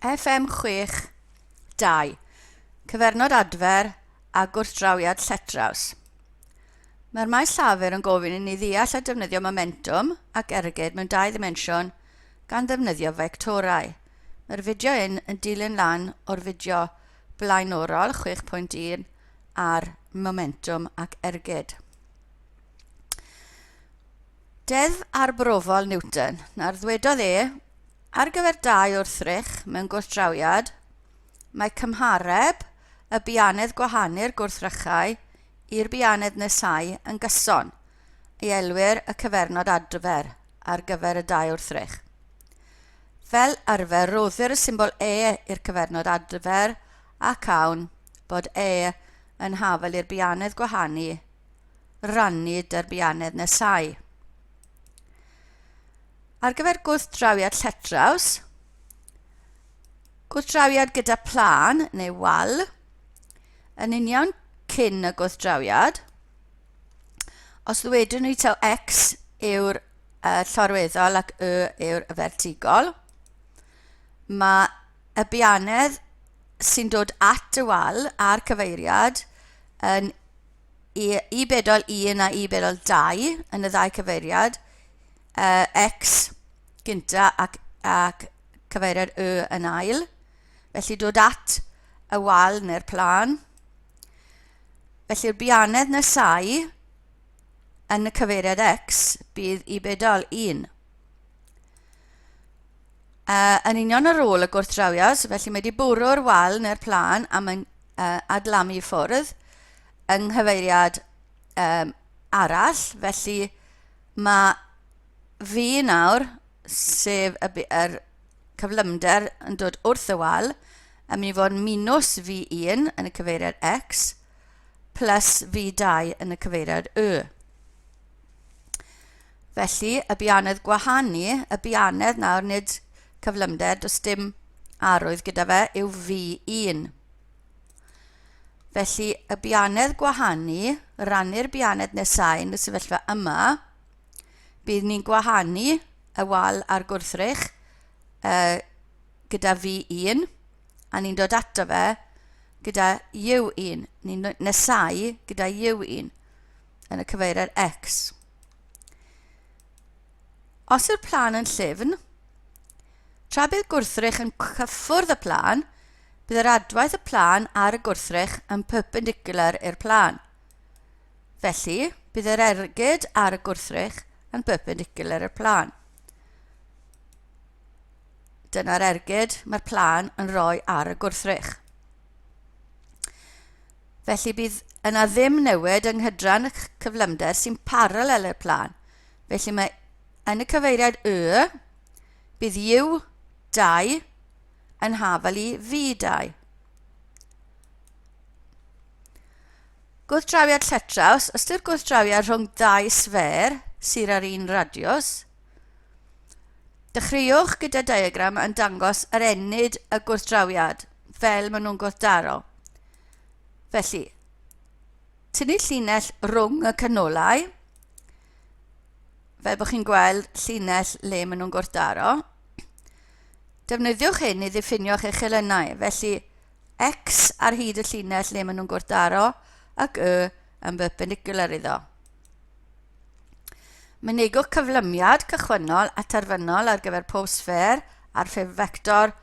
FM62, Cyfernod Adfer a Gwrthdrawiad Lletraws. Mae'r maes llafur yn gofyn i ni ddeall a defnyddio momentwm ac ergyd mewn dau ddimensiwn gan ddefnyddio fectorau. Mae'r fideo hyn yn dilyn lan o'r fideo blaenorol 6.1 ar momentwm ac ergyd. Deddf arbrofol Newton, na'r ddwedodd e, ar gyfer dau wrthrych mewn gwrthdrawiad, mae cymhareb y bianedd gwahanu'r gwrthrychau i'r bianedd nesáu yn gyson, y elwir y cyfernod adfer ar gyfer y dau wrthrych. Fel arfer, roddir y symbol e i'r cyfernod adfer ac awn bod e yn hafel i'r bianedd gwahanu rannu derbyannedd nesau. Ar gyfer gwrthdrawiad lletraws, gwrthdrawiad gyda plan neu wal, yn union cyn y gwrthdrawiad, os ddwedwn ni taw x yw'r uh, llorweddol ac y yw'r fertigol, mae y bianedd sy'n dod at y wal a'r cyfeiriad yn i, i bedol 1 a i bedol 2 yn y ddau cyfeiriad, uh, X gynta ac, ac cyfeiriad Y yn ail. Felly dod at y wal neu'r plan. Felly'r bianedd nesau yn y cyfeiriad X bydd i bedol 1. Uh, yn union ar ôl y gwrthdrawiad, felly mae wedi bwrw'r wal neu'r plan a mae'n uh, adlamu ffwrdd yng nghyfeiriad um, arall, felly mae fi nawr, sef y, yr cyflymder yn dod wrth y wal, yn mynd i fod yn minus V1 yn y cyfeiriad X plus V2 yn y cyfeiriad Y. Felly, y bianedd gwahanu, y bianedd nawr, nid cyflymder, does dim arwydd gyda fe, yw V1. Felly, y bianedd gwahanu, rannu'r bianedd nesau yn y sefyllfa yma, bydd ni'n gwahanu y wal a'r gwrthrych uh, gyda V1, a ni'n dod ato fe gyda U1, ni'n nesau gyda U1 yn y cyfeiriad X. Os yw'r plân yn llyfn, tra bydd gwrthrych yn cyffwrdd y plân, bydd yr adwaith y plân ar y gwrthrych yn perpendicular i'r plân. Felly, bydd yr ergyd ar y gwrthrych yn perpendicular i'r plân. Dyna'r ergyd mae'r plân yn rhoi ar y gwrthrych. Felly bydd yna ddim newid yng nghydran y cyflymder sy'n paralel i'r plan. Felly mae yn y cyfeiriad Y, bydd U2 yn hafel i V2. Gwrthdrawiad lletraws, ystyr gwrthdrawiad rhwng ddau sfer sydd ar un radiws, Dechreuwch gyda diagram yn dangos yr ennyd y gwrthdrawiad fel maen nhw'n gwrthdaro. Felly, tynnu llinell rhwng y canolau, fel bod chi'n gweld llinell le maen nhw'n gwrthdaro. Defnyddiwch hyn i ddiffinio'ch eich elynau, felly x ar hyd y llinell le maen nhw'n gwrthdaro ac y yn perpendicular iddo. Mynegwch cyflymiad cychwynnol a terfynol ar gyfer pob sffêr ar ffurf fector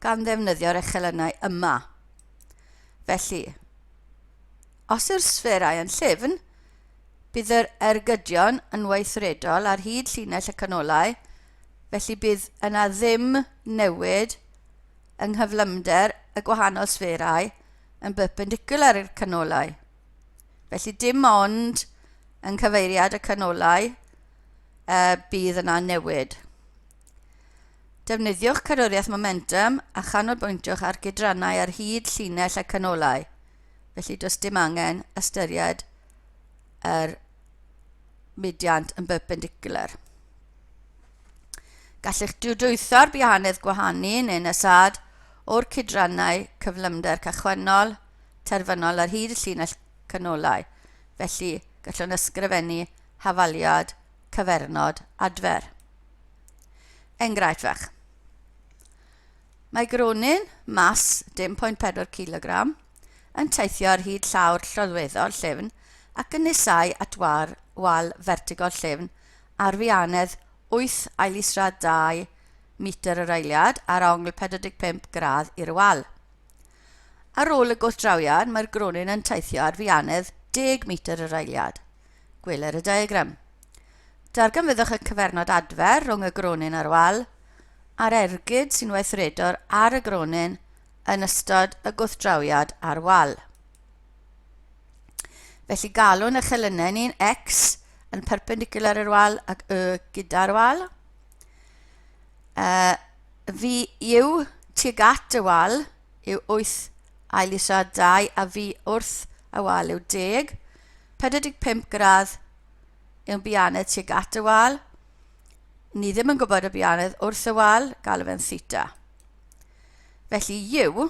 gan ddefnyddio'r echelynau yma. Felly, os yw'r sfferau yn llyfn, bydd yr ergydion yn weithredol ar hyd llinell y canolau, felly bydd yna ddim newid yng nghyflymder y gwahanol sfferau yn berpendicular i'r canolau. Felly dim ond yng nghyfeiriad y canolau y bydd yna newid. Defnyddiwch cadwriaeth momentum a chanolbwyntiwch ar gydrannau ar hyd llinell y canolau, felly does dim angen ystyried yr mudiant yn berpendicular. Gallwch diwdwytho'r bihanedd gwahanu neu'n ysad o'r cydrannau cyflymder cychwynnol terfynol ar hyd y llinell canolau, felly gallwn ysgrifennu hafaliad, cyfernod, adfer. Enghraifft fach. Mae gronyn, mas 10.4 kg, yn teithio ar hyd llawr lloddweddol llyfn ac yn nesau at war, wal fertigol llyfn ar fianedd 8 ailisradd 2 metr yr eiliad ar ongl 45 gradd i'r wal. Ar ôl y gwrthdrawiad, mae'r gronyn yn teithio ar fianedd 10 metr yr eiliad. Gweler y diagram. Darganfyddwch y cyfernod adfer rhwng y gronyn a'r wal, a'r ergyd sy'n weithredor ar y gronyn yn ystod y gwrthdrawiad ar wal. Felly galwn y chelynau ni'n x yn perpendicular i'r wal ac y gyda'r wal. Uh, Fi yw tuag at y wal yw wyth, ail isa dau a fi wrth y wal yw deg, 45 gradd yw'n bianedd tuag at y wal, ni ddim yn gwybod y bianedd wrth y wal, galw fe'n theta. Felly yw,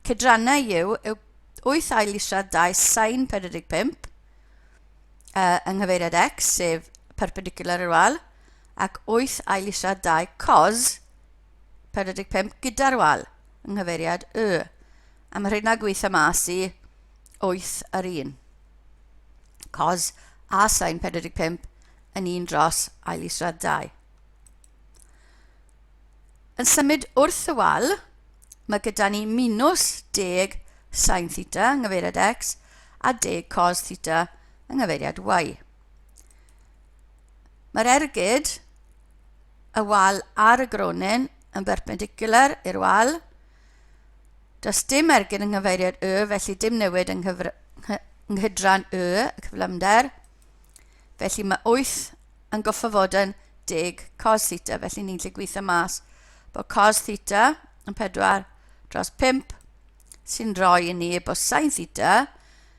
cydrannau yw, yw 8 ail isa 2 sain 45 uh, yng nghyfeiriad x, sef perpendicular i'r wal, ac wyth ailisiad dau cos 45 gyda'r wal yng nghyfeiriad Y, a mae rheina gweitha mas i wyth ar un. Cos a sain 45 yn un dros ailisiad dau. Yn symud wrth y wal, mae gyda ni minus deg sain theta yng nghyfeiriad x a deg cos theta yng nghyfeiriad y. Mae'r ergyd, y wal a'r y gronyn yn berpendicular i'r wal. Does dim ergyd yng nghyfeiriad y, felly dim newid yng nghydran y, y cyflymder. Felly mae 8 yn goffa fod yn 10 cos theta, felly ni'n lle gweithio mas bod cos theta yn 4 dros 5 sy'n rhoi i ni bod sain theta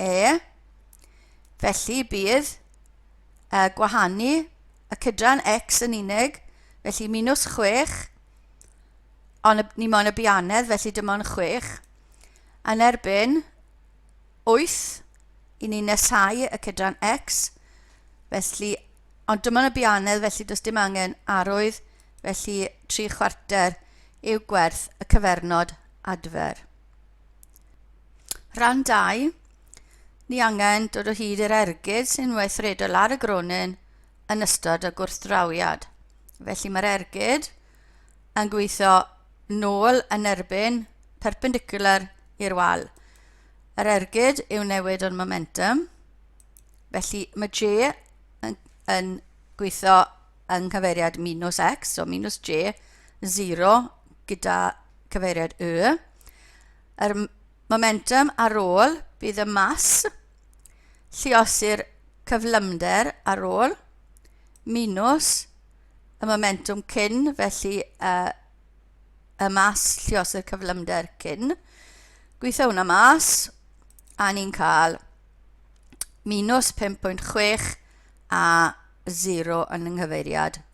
E. Felly bydd uh, gwahanu y cydran X yn unig, felly minus 6, ond ni moyn y bianedd, felly dim ond 6, yn erbyn 8 i ni nesau y cydran X, felly, ond dim ond y bianedd, felly does dim angen arwydd, felly 3 chwarter yw gwerth y cyfernod adfer. Rhan 2, ni angen dod o hyd i'r ergyd sy'n weithredol ar y gronyn yn ystod y gwrthdrawiad. Felly mae'r ergyd yn gweithio nôl yn erbyn perpendicular i'r wal. Yr ergyd yw newid o'r momentum, felly mae J yn, yn gweithio yng nghyfeiriad minus X, so minus J, 0 gyda cyfeiriad Y. yr momentum ar ôl, bydd y mas, lluosir cyflymder ar ôl, minus y momentum cyn, felly uh, y mas lluosir cyflymder cyn. Gweithio hwnna mas, a ni'n cael minus 5.6 a 0 yn yng nghyfeiriad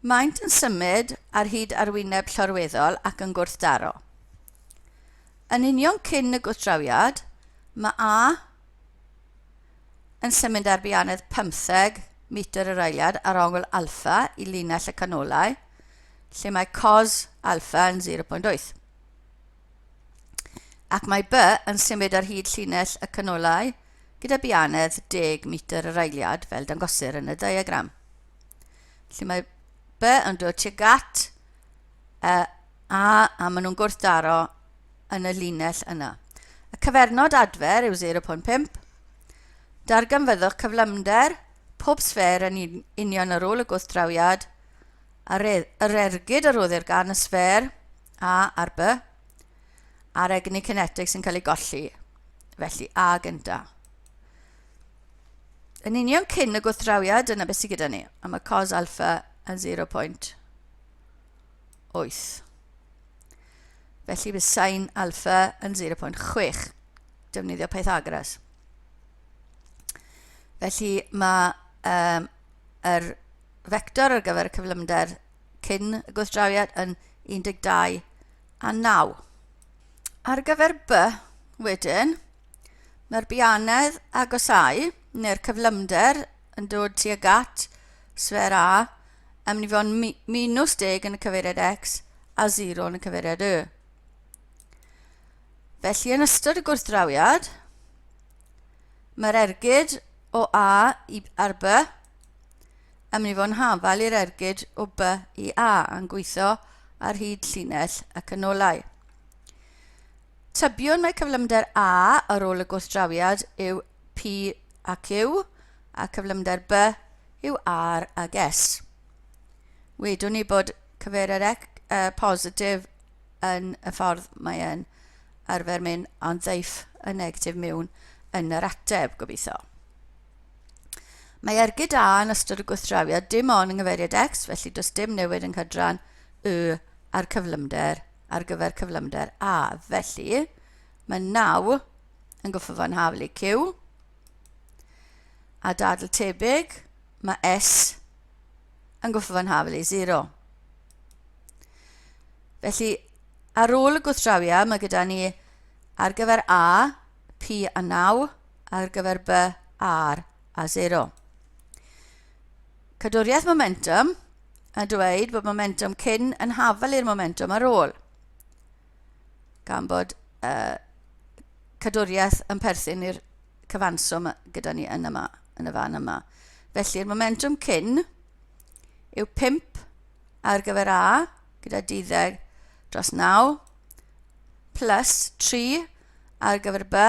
Maent yn symud ar hyd arwyneb llorweddol ac yn gwrthdaro. Yn union cyn y gwrthdrawiad, mae A yn symud ar bianedd 15 metr yr eiliad ar ongl alffa i linell y canolau, lle mae cos alffa yn 0.8. Ac mae B yn symud ar hyd llinell y canolau gyda bianedd 10 metr yr eiliad, fel dangosir yn y diagram. Felly mae by yn dod tuag at y a a maen nhw'n gwrthdaro yn y linell yna. Y cyfernod adfer yw 0.5. Darganfyddwch cyflymder pob sfer yn union ar ôl y gwrthdrawiad a yr ergyd a roddir gan y sfer a ar by a'r egni cinetig sy'n cael ei golli, felly a gyntaf. yn union cyn y gwrthdrawiad, dyna beth sydd gyda ni. A mae cos alfa yn 0.8. Felly bydd sain alfa yn 0.6. Defnyddio Pythagoras. Felly mae um, yr vector ar gyfer y cyflymder cyn y gwrthdrawiad yn 12 a 9. Ar gyfer by, wedyn, mae'r bianedd agosáu, neu'r cyflymder, yn dod tuag at sfer A yn mynd i fod yn minus 10 yn y cyfeiriad X a 0 yn y cyfeiriad Y. Felly, yn ystod y gwrthdrawiad, mae'r ergyd o A i ar by Ymni fo'n hafal i'r ergyd o by i a a'n gweithio ar hyd llinell y canolau. Tybiwn mae cyflymder A ar ôl y gwrthdrawiad yw P a Q a cyflymder B yw R ag S. Wedwn ni bod cyfeiriad ec, uh, positif yn y ffordd mae e'n arfer mynd a'n ddeiff y negatif miwn yn yr ateb, gobeithio. Mae ergyd A yn ystod y gwrthdrawiad dim ond yng nghyfeiriad X, felly does dim newid yng nghydran Y ar cyflymder ar gyfer cyflymder A. Felly, mae naw yn gyffwrdd haflu Q. A dadl tebyg, mae S yn gyffwrdd haflu 0. Felly, ar ôl y gwrthdrawiau, mae gyda ni ar gyfer A, P a 9, ar gyfer B, R a 0. Cadwriaeth momentum a dweud bod momentum cyn yn hafel i'r momentum ar ôl. Gan bod uh, cadwriaeth yn perthyn i'r cyfanswm gyda ni yn yma, yn y fan yma. Felly'r momentum cyn yw 5 ar gyfer A gyda 12 dros 9 plus 3 ar gyfer B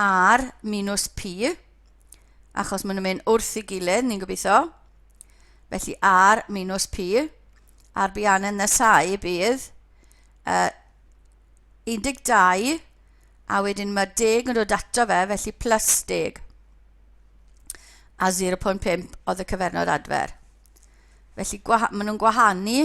R minus P, achos maen nhw'n mynd wrth i gilydd, ni'n gobeithio. Felly R minus P, a'r bian yn nesau bydd uh, 12, a wedyn mae deg yn dod ato fe, felly plus deg. A 0.5 oedd y cyfernod adfer. Felly maen nhw'n gwahanu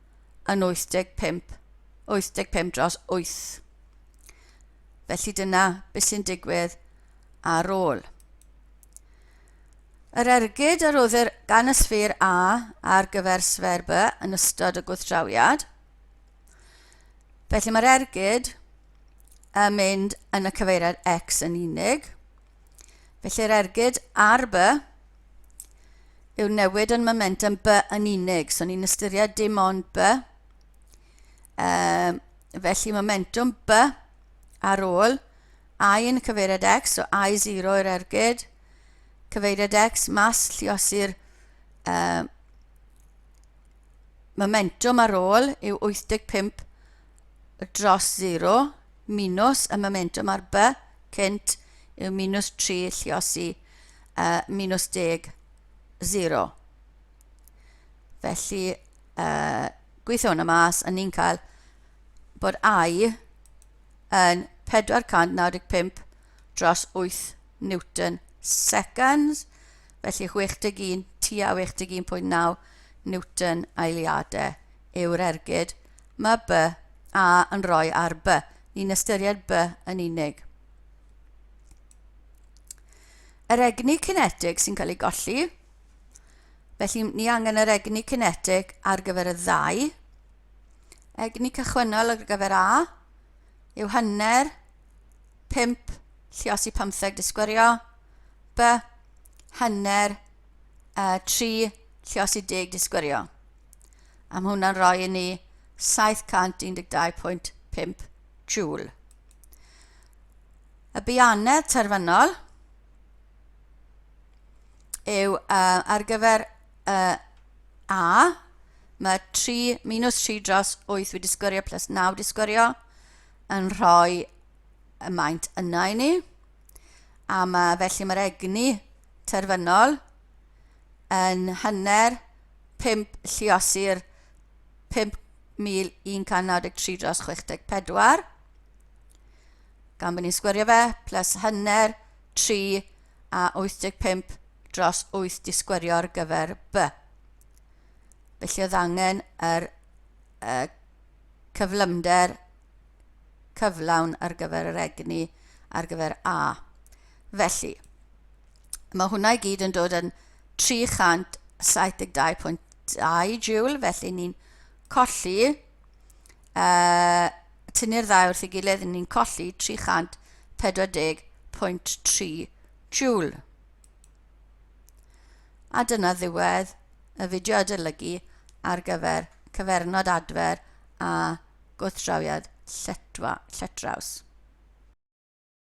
yn 85, 85 dros 8. Felly dyna beth sy'n digwydd ar ôl. Yr ergyd a roddir gan y sffur A ar gyfer sfer B yn ystod y gwrthdrawiad. Felly mae'r ergyd yn mynd yn y cyfeiriad X yn unig. Felly'r ergyd ar by yw'r newid yn momentum by yn unig. So ni'n ystyried dim ond by. Um, felly momentum by ar ôl i yn cyfeiriad x, so i 0 i'r ergyd, cyfeiriad x, mas lliosi'r uh, momentum ar ôl yw 85 dros sero, minws y momentwm ar by cynt yw minws 3 lliosi y minws deg sero. Felly, uh, gweithio hwnna mas, a ni'n cael bod I yn 495 dros 8 Newton seconds, felly 61 tua 61.9 Newton aeliadau yw'r ergyd. Mae by, a yn rhoi ar by. Ni'n ystyried by yn unig. Yr egni cinetig sy'n cael ei golli. Felly ni angen yr egni cinetig ar gyfer y ddau. Egni cychwynnol ar gyfer A yw hanner 5 llios i 15 disgwyrio. By hanner uh, 3 llios i 10 disgwyrio. a mae hwnna'n rhoi i ni 712.5 joule. Y bianedd terfynol yw uh, ar gyfer uh, A, mae 3, minus 3 dros 8 wedi sgwrio plus 9 wedi sgwrio yn rhoi y maint yna i ni. A mae, felly mae'r egni terfynol yn hanner pump lliosir 5193 dros 64 gan bod ni'n sgwerio fe plus hanner 3 a 85 dros 8 di sgwerio ar gyfer b felly oedd angen yr uh, cyflymder cyflawn ar gyfer yr egni ar gyfer a felly Mae hwnna i gyd yn dod yn 372.2 joule, felly ni'n colli, uh, tynnu'r ddau wrth ei gilydd, ni'n colli 340.3 joule. A dyna ddiwedd y fideo adolygu ar gyfer cyfernod adfer a gwrthdrawiad lletraws.